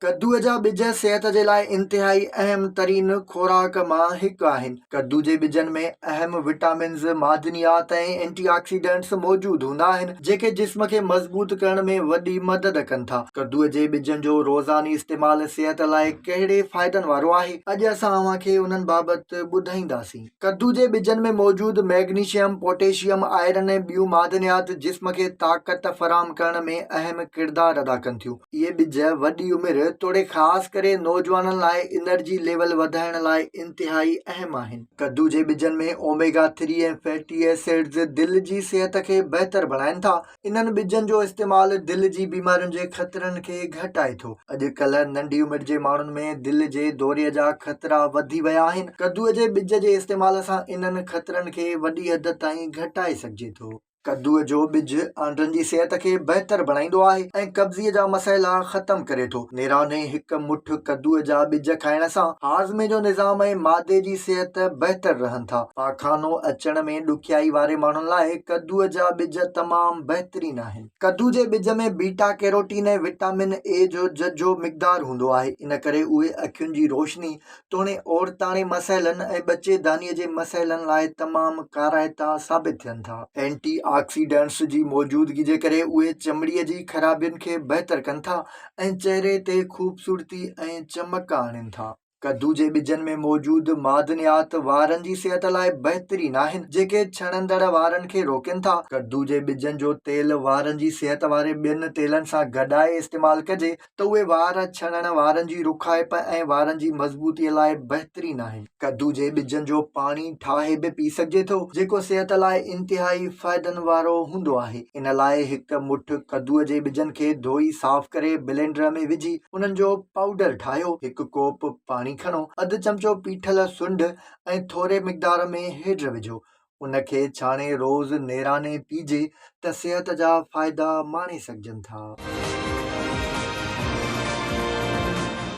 ڪدوء جا ٻج صحت جي لاء انتهائي اهم ترين خوراڪ مان هڪ آهن. ڪدو جي ٻجن ۾ اهم وٽامنز، معدنيات ۽ اينٽي آڪسيڊنٽس موجود هوندا آهن، جيڪي جسم کي مضبوط ڪرڻ ۾ وڏي مدد ڪن ٿا. ڪدوء جي ٻجن جو روزاني استعمال صحت لاء ڪهڙي فائدن وارو آهي؟ اڄ اسان اوهان کي انهن بابت ٻڌائينداسين. ڪدو جي ٻجن ۾ موجود مئگنيشيم، پوٽيشيم، آئرن ۽ ٻيون معدنيات جسم کي طاقت فراهم ڪرڻ ۾ اهم ڪردار ادا ڪن ٿيون. اهي ٻج وڏي عمر توڙي خاص ڪري نوجوانن لاء انرجي ليول وڌائڻ لاء انتهائي اهم آهن. ڪدو جي ٻجن ۾ اوميگا ٿري ۽ فيٽي ايسڊز دل جي صحت کي بهتر بڻائين ٿا. انهن ٻجن جو استعمال دل جي بيمارين جي خطرن کي گهٽائي ٿو. اڄڪلهه ننڍي عمر جي ماڻهن ۾ دل جي دوري جا خطرا وڌي ويا آهن. ڪدو جي ٻج جي استعمال سان انهن خطرن کي وڏي حد تائين گهٽائي سگهجي ٿو. ڪدوء جو ٻج آنڊن جي صحت کي بهتر بڻائيندو آهي ۽ قبضي جا مسئلا ختم ڪري ٿو. نيرانهين هڪ مٺ ڪدوء جا ٻج کائڻ سان هاضمي جو نظام ۽ معدي جي صحت بهتر رهن ٿا. پاخانو اچڻ ۾ ڏکيائي واري ماڻهن لاء ڪدوء جا ٻج تمام بهترين آهن. ڪدو جي ٻج ۾ بيٽا ڪيروٽين ۽ وٽامن اي جو ججهو مقدار هوندو آهي، ان ڪري اهي اکين جي روشني توڻي عورتاڻي مسئلن ۽ ٻچيدانيء جي مسئلن لاء تمام ڪارائتا ثابت ٿين ٿا. اينٽي آڪسيڊنٽس جي موجودگي جي ڪري اهي چمڙي جي خرابين کي بهتر ڪن ٿا ۽ چهري تي خوبصورتي ۽ چمڪ آڻين ٿا. ڪدو جي ٻجن ۾ موجود معدنيات وارن جي صحت لاء بهترين آهن، جيڪي ڇڻندڙ وارن کي روڪين ٿا. ڪدو جي ٻجن جو تيل وارن جي صحت واري ٻين تيلن سان گڏائي استعمال ڪجي ته اهي وار ڇڻڻ وارن جي رکائپ ۽ وارن جي مضبوطي لاء بهترين آهن. ڪدو جي ٻجن جو پاڻي ٺاهي به پي سگهجي ٿو، جيڪو صحت لاء انتهائي فائدن وارو هوندو آهي. ان لاء هڪ مٺ ڪدوء جي ٻجن کي ڌوئي صاف ڪري بلينڊر ۾ وجهي انهن جو پائوڊر ٺاهيو. هڪ ڪوپ پاڻي کڻو، اڌ چمچو پيٺل سنڍ ۽ ٿوري مقدار ۾ هيڊ وجهو. ان کي ڇاڻي روز نيراني پيجي ته صحت جا فائدا ماڻي سگهجن ٿا.